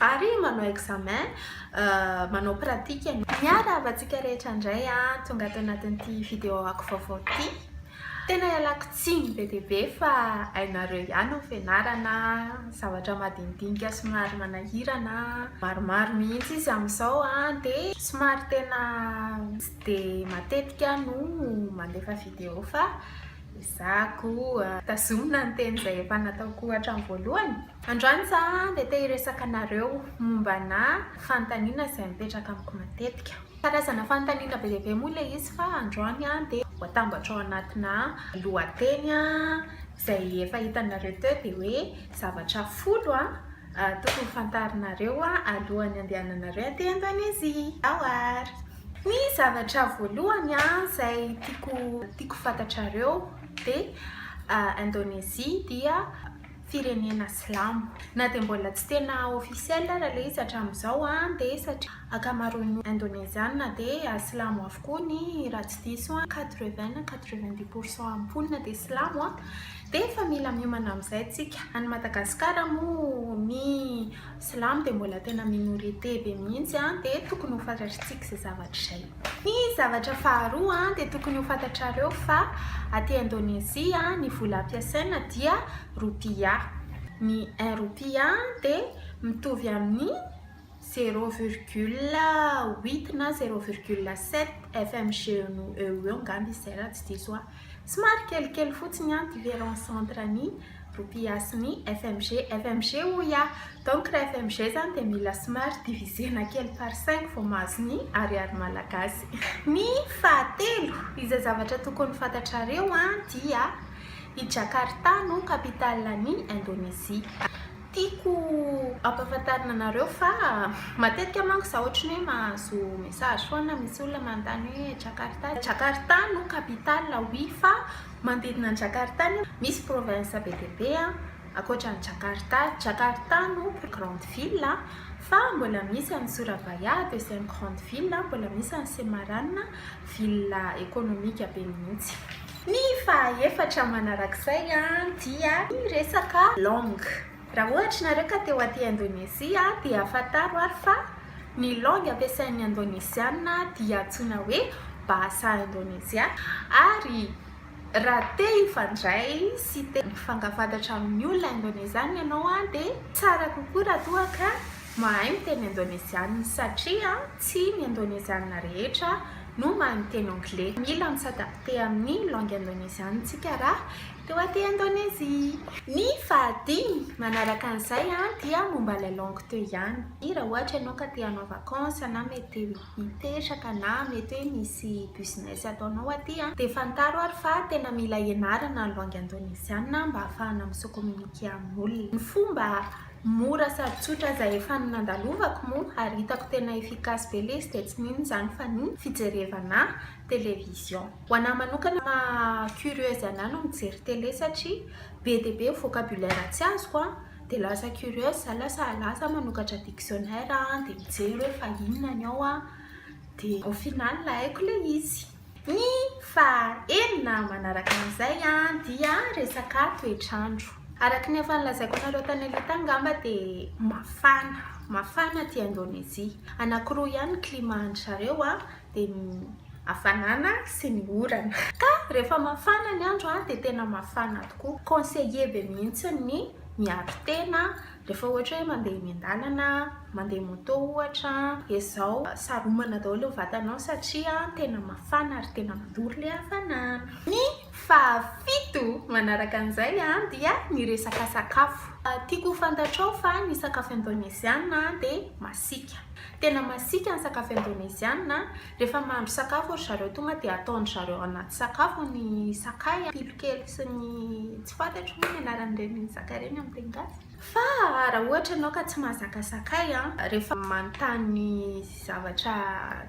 Ary manao examen, manao pratique ianao. Miarahaba antsika rehetra indray tonga ato anatin'ity vidéo ako vaovao ity. Tena ialako tsiny be dia be fa hainareo ihany ny fianarana, zavatra madinidinika somary manahirana, maromaro mihitsy izy amin'izao dia somary tena tsy dia matetika aho no mandefa vidéo fa. Izaho koa, tazomina ny teny izay efa nataoko hatramin'ny voalohany. Androany za dia te hiresaka anareo mombanà fanontaniana izay mipetraka amiko matetika. Karazana fanontaniana be dia be moa ilay izy fa androany dia ho atambatro ao anatinà lohateny izay efa hitanareo teo dia hoe zavatra folo tokony fantarinareo alohan'ny andehananareo aty Indonezia. Ao àry! Ny zavatra voalohany izay tiako tiako fantatrareo dia Indonezia dia firenena silamo. Na dia mbola tsy tena officiel ary ilay izy hatramin'izao dia satria ankamaroan'ny Indoneziana dia silamo avokoa ny raha tsy diso aho quatre vingt na quatre vingt dix pour cent mponina dia silamo dia efa mila miomana amin'izay isika. Any Madagasikara moa ny Silamo dia mbola tena minorite be mihitsy an, dia tokony ho fantatritsika izay zavatra izay. Ny zavatra faharoa an, dia tokony ho fantatrareo fa aty Indonezia ny vola ampiasaina dia Rupiah. Ny un Rupiah dia mitovy amin'ny zéro virgule huit na zéro virgule sept FMG eo ho eo angamba izy izay raha tsy diso aho. Somary kelikely fotsiny an ty veran centre ny rupias ny fmg fmg hoy aho donc raha fmg zany dia mila somary divisena kely par cinq vao mahazo ny ariary malagasy. Ny fahatelo izay zavatra tokony fantatrareo an dia i Jakarta no capitale ny Indonesie. Tiako ampahafantarina anareo fa matetika manko za ohatry ny hoe mahazo message foana misy olona manontany hoe Jakarta, Jakarta no capitale oui fa manodidina an'i Jakarta anie misy province be dia be ankoatran'i Jakarta, Jakarta no plus grande ville fa mbola misy an'i Surabaya deuxième grande ville, mbola misy an'i Semarang ville économique be mihitsy. Ny fahaefatra manarak'izay dia ny resaka langue. Raha ohatra nareo ka teo aty Indonezia dia fantaro ary fa ny langue ampiasain'ny Indoneziana dia antsoina hoe Bahasa Indonesia ary raha te hifandray sy te hifankafatatra amin'ny olona Indoneziana ianao dia tsara kokoa raha toa ka mahay miteny Indoneziana satria tsy ny Indoneziana rehetra no mahay miteny anglais. Mila mi-s'adapter amin'ny langue indoneziana tsika raha teo aty Indonezia. Ny fahadimy manaraka an'izay dia momba ilay langue teo ihany. Raha ohatra ianao ka te hanao vacances na mety hipetraka na mety hoe misy business ataonao aty dia fantaro ary fa tena mila ianarana ny langue indoneziana mba hahafahana mi-se communiquer amin'olona. Ny fomba Mora sady tsotra aza efa ny nandalovako moa ary hitako tena efficace be lesy dia tsy n'inona izany fa ny fijerevana television. Ho anah manokana maha curieuse anah no mijery tele satria be dia be ny vocabulaire tsy azoko an, dia lasa curieuse za lasa lasa manokatra dictionnaire an dia mijery hoe fa inona ny ao an, dia au final haiko ilay izy. Ny faha enina manaraka an'izay dia resaka toetr'andro. Araka ny efa nolazaiko anareo tany aloha tany ngamba dia mafana, mafana aty Indonezia. Anankiroa ihany ny climat an-dry zareo dia ny hafanana sy ny orana. Ka rehefa mafana ny andro dia tena mafana tokoa. Conseillé be mihitsy ny miaro tena Rehefa ohatra hoe mandeha eny an-dalana, mandeha moto ohatra, dia izao, saromana daholo ny vatanao satria tena mafana ary tena mandoro ilay hafanana. Ny fahafito manaraka an'izay dia ny resaka sakafo. Tiako ho fantatrao fa ny sakafo indoneziana dia masiaka. Tena masiaka ny sakafo indoneziana Rehefa mahandro sakafo ry zareo tonga dia ataondry zareo anaty sakafo ny sakay, pilokely sy ny tsy fantatro moa ny anaran'ireny sakay ireny amin'ny teny gasy. Fa raha ohatra ianao ka tsy mahazaka sakay a, rehefa manontany zavatra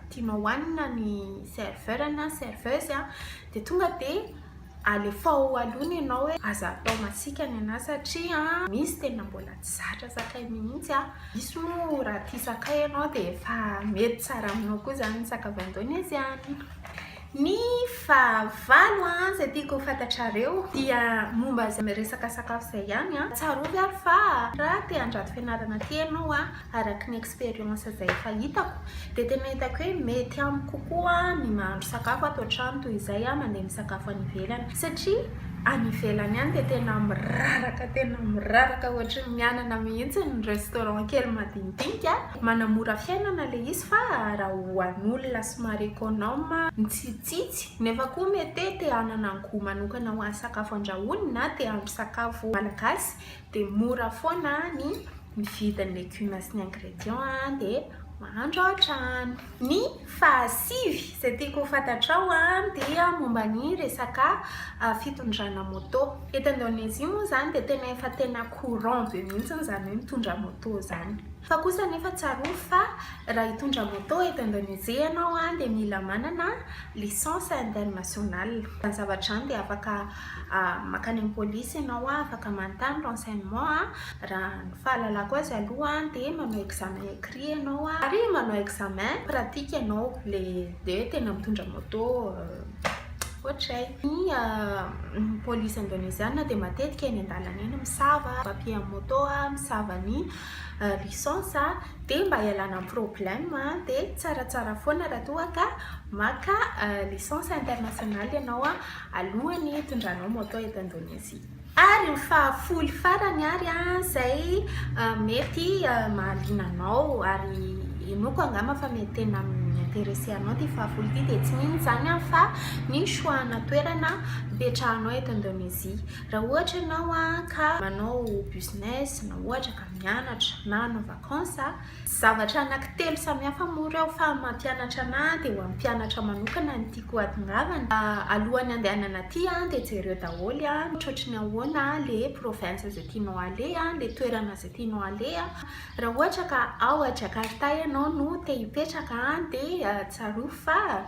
tianao hohanina ny serveur na serveuse a, dia tonga dia. Alefao aloha ny anao hoe aza atao masiaka ny anà satria misy tena mbola tsy zatra sakay mihitsy a! Misy moa raha tia sakay ianao dia efa mety tsara aminao koa izany ny sakavy indôneziàna. Ny fahavalo izay tiako ho fantatrareo dia momba izay resaka sakafo izay ihany a! Tsarovy ary fa raha te handrato fianarana aty ianao a, Araky ny expérience izay efa hitako dia tena hitako hoe mety amiko kokoa ny mahandro sakafo ato an-trano toy izay aho mandeha misakafo any ivelany satria any ivelany any dia tena miraraka tena miraraka ohatry ny mianana mihitsy ny restaurant kely madinidinika manamora fiainana ilay izy fa raha ho an'olona somary econome mitsitsitsy nefa koa mety te hanana gout manokana ho an'ny sakafo andrahoiny na te hahandro sakafo malagasy dia mora foana ny mividy ny legumes sy ny ingrédients dia mahandro ao an-trano. Ny fahasivy izay tiako ho fantatrao dia momba ny resaka fitondrana moto. Eto Indonezia moa izany dia tena efa tena courant be mihitsy izany hoe mitondra moto izany. Fa kosa anefa tsarovy fa raha hitondra moto eto Indonezia ianao dia mila manana licence internationale. Izany zavatra izany dia afaka. Makany amin'ny polisy ianao afaka manontany renseignement, raha ny fahalalako azy aloha dia manao examen écrit ianao ary manao examen pratique ianao le dia tena mitondra moto ohatray, ny polisy indoneziana dia matetika eny an-dalana eny misava papier an'ny moto, misava ny licence dia mba hialana amin'ny problème dia tsaratsara foana raha toa ka maka licence internationale ianao. alohan'ny hitondranao moto eto Indonezia. Ary ny fahafoly farany ary izay mety mahaliana anao ary henoiko angamba fa mety tena mi-interesse anao ity fahafoly ity dia tsy inona izany fa ny choix ana toerana hipetrahanao eto Indonezia. Raha ohatra ianao ka manao business na ohatra ka mianatra na hanao vacances Zavatra anankitelo samihafa moa ireo fa ny mampianatra anahy dia ho an'ny mpianatra manokana no tiako hatongavana. Alohan'ny handehanana aty dia jereo daholo ohatrohatry ny ahoana ilay province izay tianao aleha, ilay toerana izay tianao aleha. Raha ohatra ka ao Jakarta ianao no te hipetraka dia tsarovy fa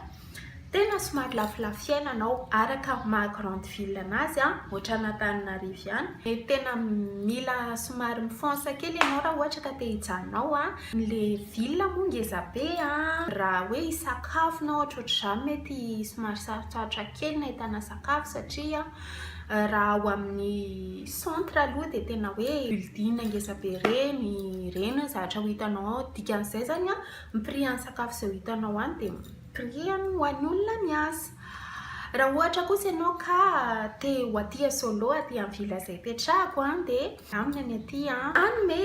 Tena somary lafolafo fiainana ao araka maha grande ville anazy a, ohatran'Antananarivo ihany. Mety tena mila somary mifonsa kely ianao raha ohatra ka te hijanona ao a. Ilay ville moa ngeza be a, raha hoe hisakafo na ohatrohatr'izany mety somary sarotsarotra kely ny ahitana sakafo satria raha ao amin'ny centre aloha dia tena hoe building ngeza be ireny, ireny no zavatra ho hitanao ao. Dikan'izay izany a, ny prix an'ny sakafo izay ho hitanao any dia. Biriany ho an'olona miasa. Raha ohatra kosa ianao ka te ho aty solo aty amin'ny villa izay ipetrahako dia aminy any aty an. Hanome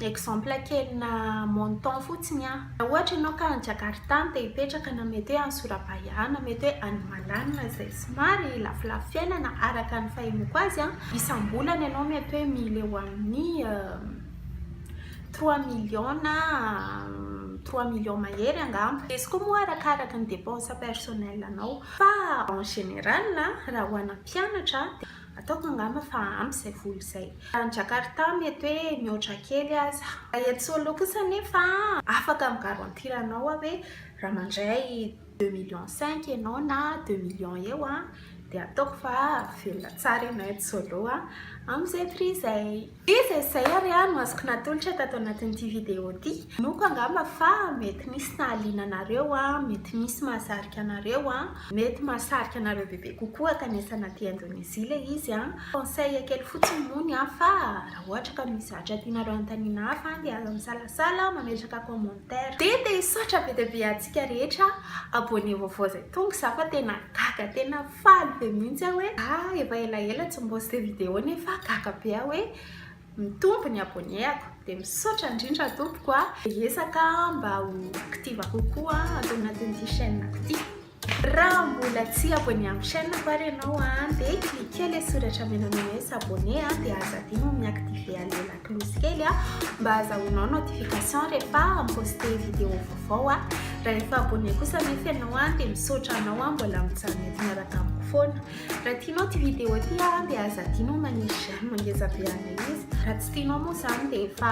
exemple kelina montant fotsiny aho. Raha ohatra ianao ka any Jakarta no te hipetraka na mety hoe any Surabaya na mety hoe any Malana izay somary lafolafo fiainana araka ny fahenoko azy an, isam-bolana ianao mety hoe mila eo amin'ny Trois millions na trois millions mahery angamba. Izy koa moa arakaraka ny dépenses personnelles anao. Fa en général raha ho ana mpianatra dia ataoko angamba fa ampy izay vola izay. Any Jakarta mety hoe mihoatra kely aza. Raha eto Solo kosa anefa afaka mi garantir anao aho hoe raha mandray deux millions cinq ianao na deux millions eo a dia ataoko fa velona tsara ianao eto solo a amin'izay prix izay dia izay izay ary a no azoko natolotra tato anatin'ity video ity hinoako angamba fa mety misy nahaliana anareo a mety misy mahasarika anareo a mety mahasarika anareo bebe kokoa kanesana aty Indonezia ilay izy a conseil kely fotsiny moa ny ahy fa raha ohatra ka misy zavatra tianareo hanontaniana ahy fa dia aza misalasala mametraka comment Dia te hisaotra be dia be antsika rehetra abonné vaovao izay tonga za fa tena gaga tena faly be mihitsy aho hoe a efa elaela tsy mi-poste vidéo nefa gaga be aho hoe mitombo ny abonné-ako dia misaotra indrindra tompoko a. Hiezaka aho mba ho active kokoa ato anatin'ity chaîne-ko ity. Raha mbola tsy abonné amin'ny chaîne-ko ary ianao an, dia cliquer ilay soratra menamena hoe s'abonner an, dia aza adino ny mi-activer an'ilay lakolosy kely an, mba hazahoanao notification rehefa mi-poster vidéo vaovao aho. Raha efa abonné kosa anefa ianao an, dia misaotra anao an, mbola mijanona eto miaraka amiko foana. Raha tianao ity vidéo ity an, dia aza adino ny manisy j'aime ngeza be an'ilay izy. Raha tsy tianao moa izany dia efa.